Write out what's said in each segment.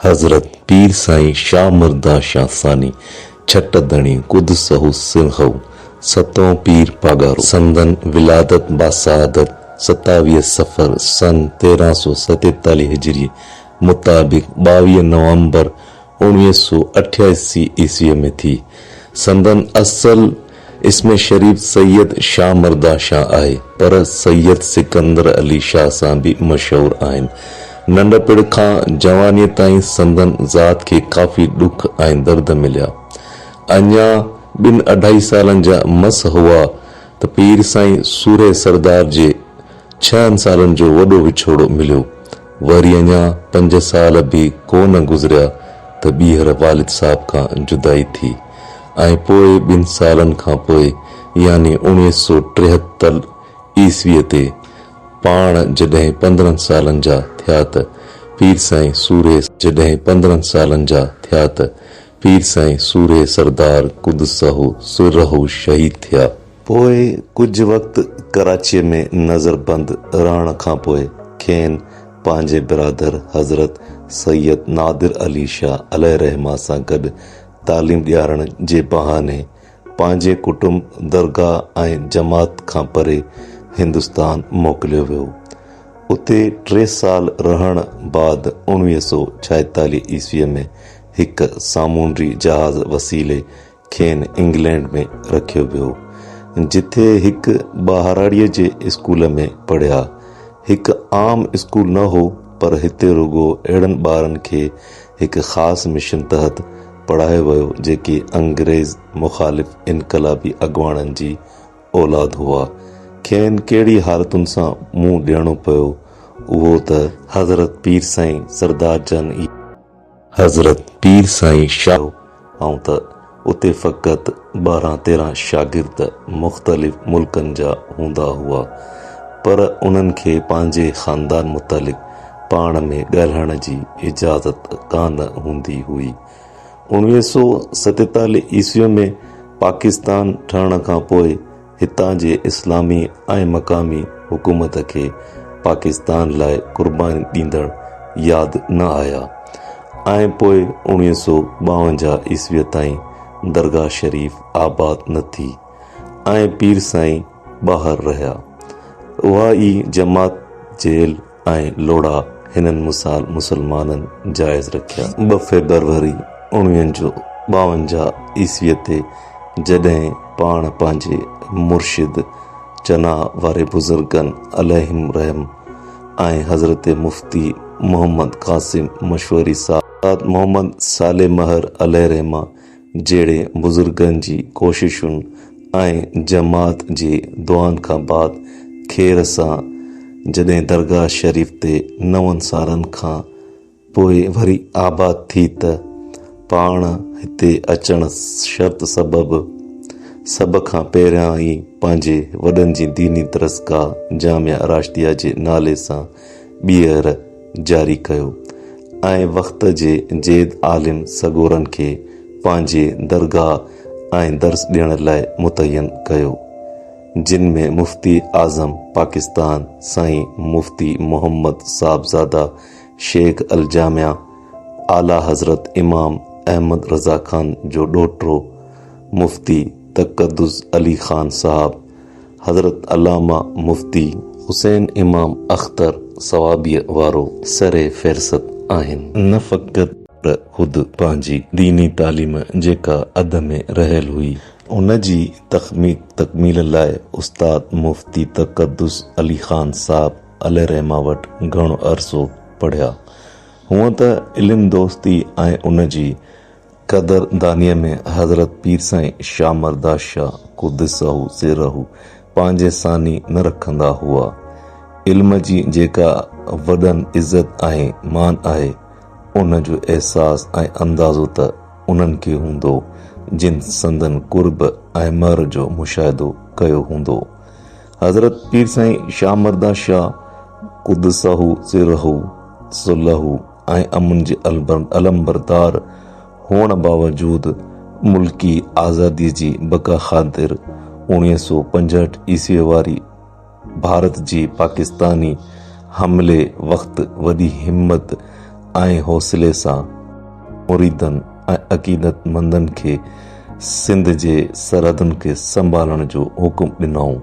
حضرت پير سائين شاهه مرده شاهه ثاني ڇٽ ڌڻي قدسه سرهه ستئون پير پاڳارو سندن ولادت باسعادت ستاويهه صفر سن تيرهن سؤ ستيتاليهه هجري مطابق ٻاويهه نومبر اوڻويهه سؤ اٺياسي عيسويء ۾ ٿي سندن اصل اسم شريف سيد شاهه مرده شاهه آهي، پر سيد سڪندر علي شاهه سان به مشهور آهن. ننڍپڻ کان جوانيء تائين سندن ذات کي ڪافي ڏک ۽ درد مليا. اڃا ٻن اڍائي سالن جا مس هئا ته پير سائين سورهيه سردار جي ڇهن سالن جو وڏو وڇوڙو مليو. وري اڃا پنج سال به ڪو نه گذريا ته ٻيهر والد صاحب کان جدائي ٿي ۽ پوء ٻن سالن کان پوء يعني اوڻويهه سؤ ٽيهتر عيسويء تي پاڻ جڏهن پندرهن سالن جا ٿيا ته پير سائين سورهيه جڏهن پندرهن سالن جا ٿيا ته پير سائين سورهيه سردار قدسه سره شهيد ٿيا. پوء ڪجهه وقت ڪراچيء ۾ نظر بند رهڻ کان پوء کين پنهنجي برادر حضرت سيد نادر علي شاهه عليه الرحمة سان گڏ تعليم ڏيارڻ جي بهاني پنهنجي ڪٽنب، درگاهه ۽ جماعت کان پري هندستان موڪليو ويو. اتي ٽي سال رهڻ بعد اڻويهه سؤ ڇاهيتاليهه عيسويء ۾ هڪ سامونڊي جهاز وسيلي کين انگلينڊ ۾ رکيو ويو، جتي هڪ ٻهراڙيء جي اسڪول ۾ پڙهيا. هڪ عام اسڪول نه هو، پر هتي رڳو اهڙن ٻارن کي هڪ خاص مشن تحت پڙهايو ويو، جيڪي انگريز مخالف انقلابي اڳواڻن جي اولاد هئا. کين ڪهڙي حالتن سان منهن ڏيڻو پيو، اهو ته حضرت پير سائين سردار جان ئي. حضرت پير سائين شاهه آئون ته اتي فقط ٻارهن تيرهن شاگرد مختلف ملڪن جا هوندا هئا پر انهن کي پنهنجي خاندان متعلق پاڻ ۾ ڳالهائڻ جي اجازت ڪانه هوندي هئي اوڻويهه سؤ ستيتاليهه عيسوي ۾ پاڪستان ٺهڻ کان پوء هتان جي اسلامي ۽ مقامي حڪومت کي پاڪستان لاء قرباني ڏيندڙ ياد نه آيا ۽ پوء اوڻويهه سؤ ٻاونجاهه عيسويء تائين درگاهه شريف آباد نه ٿي ۽ پير سائين ٻاهر رهيا. اها ئي جماعت جيل ۽ لوڙها هنن مثال مسلمانن جائز رکيا. ٻه فيبروري اڻويهه جو ٻاونجاهه عيسويء تي جڏهن پاڻ پنهنجي مرشد چناء واري بزرگن عليهم الرحم ۽ حضرت مفتي محمد قاسم مشوري صاحب، استاد محمد صالح مهر عليه الرحمة جهڙي بزرگن جي ڪوششن ۽ جماعت جي دعائن کان بعد خير سان جڏهن درگاهه شريف تي نون سالن کان پوء وري آباد ٿي ته پاڻ هتي اچڻ شرط سبب سڀ کان پهريان ئي پنهنجي وڏن جي ديني درسگاهه جامعه راشديه جي نالي سان ٻيهر جاري ڪيو ۽ وقت جي جيد عالم سڳورن کي پنهنجي درگاهه ۽ درس ڏيڻ لاء متعين ڪيو، جن ۾ مفتي اعظم پاڪستان سائين مفتي محمد صاحبزاده شيخ الجامع اعليٰ حضرت امام احمد رضا خان جو ڏوهٽو مفتي تقدس علي خان صاحب، حضرت علامه مفتي حسين امام اختر صوابيء وارو سر فهرست آهن. نه فقط پر خود پنهنجي ديني تعليم جيڪا اڌ ۾ رهيل هئي، ان جي تڪميل لاء استاد مفتي تقدس علي خان صاحب عليه الرحمه وٽ گهڻو عرصو پڙهيا. هونئن ته علم دوستي ۽ ان جي قدر دانيء ۾ حضرت پير سائين شاهه مرده شاهه قدسه سره پنهنجي ثاني نه رکندا هئا. علم جي جيڪا وڏن عزت ۽ مان آهي، ان جو احساس ۽ اندازو ته انهن کي هوندو، جن سندن قرب ۽ مهر جو مشاهدو ڪيو هوندو. حضرت پير سائين شاهه مرده شاهه قدسه سره صلح ۽ امن جي علمبردار هئڻ باوجود ملڪي آزادي جي بقا خاطر اوڻيهه سؤ پنجهٺ عيسوي واري ڀارت جي پاڪستاني حملي وقت وڏي همت ۽ حوصلي سان مريدن ۽ عقيدت مندن کي سنڌ جي سرحدن کي سنڀالڻ جو حڪم ڏنائون.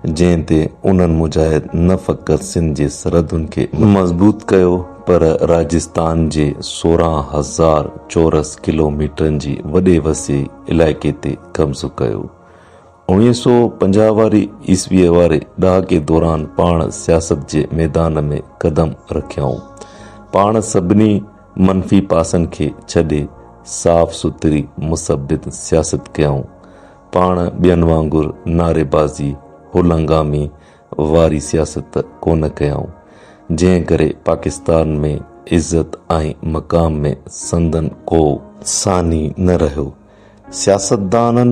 جنهن تي انهن مجاهد نه فقط سنڌ جي سرحدن کي مضبوط ڪيو پر راجستان جي سورهن هزار چورس ڪلوميٽرن جي وڏي وسيع علائقي تي قبضو ڪيو. اوڻيهه سؤ پنجاهه واري عيسويء واري ڏهاڪي دوران پاڻ سياست جي ميدان ۾ قدم رکيائون. پاڻ سڀني منفي پاسن کي ڇڏي صاف سٿري مثبت سياست ڪيائون. پاڻ ٻين وانگر نعريبازي، هلنگامي واري سياست ڪونه ڪيائون، جنهن ڪري پاڪستان ۾ عزت ۽ مقام ۾ سندن ڪو. ثاني نه رهيو. سياستدانن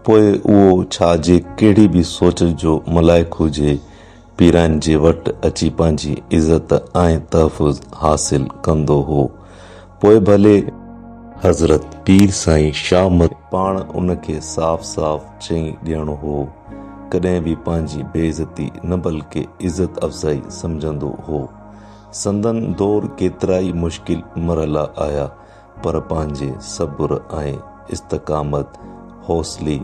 پوء اهو ڇا جي ڪهڙي به سوچ جو ملائڪ هجي، پيرائين جي وٽ اچي پنهنجي عزت ۽ تحفظ حاصل ڪندو هو پوء ڀلي حضرت پير سائين شاهه مت پاڻ ان کي صاف صاف چئي ڏيڻو هو ڪڏهن به پنهنجي بي عزتي نه بلڪه عزت افزائي سمجهندو هو سندن دور ڪيترائي مشڪل مرحلا آيا پر پنهنجي صبر ۽ استقامت حوصلي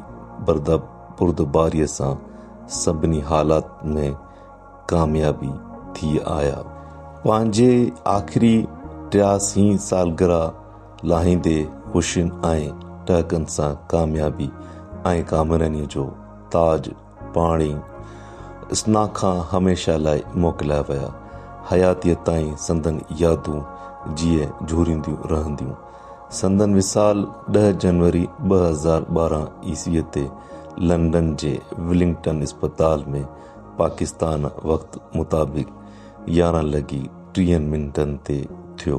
بردب بردباريء سان سڀني حالات ۾ ڪاميابي ٿي آيا. پنهنجي آخري ٽياسين سالگرهه لاهيندي خوشين ۽ ٽهڪن سان ڪاميابي ۽ ڪامرانيء جو تاج پاڻي اسنا کان هميشه لاء موڪليا ويا. حياتيء تائين سندن يادون جيئي جهورينديون رهنديون. سندن وصال ڏهه جنوري ٻه هزار ٻارهن عيسويء تي لنڊن جي ولنگٽن اسپتال ۾ پاڪستان وقت مطابق يارهن لڳي ٽيهن منٽن تي ٿيو.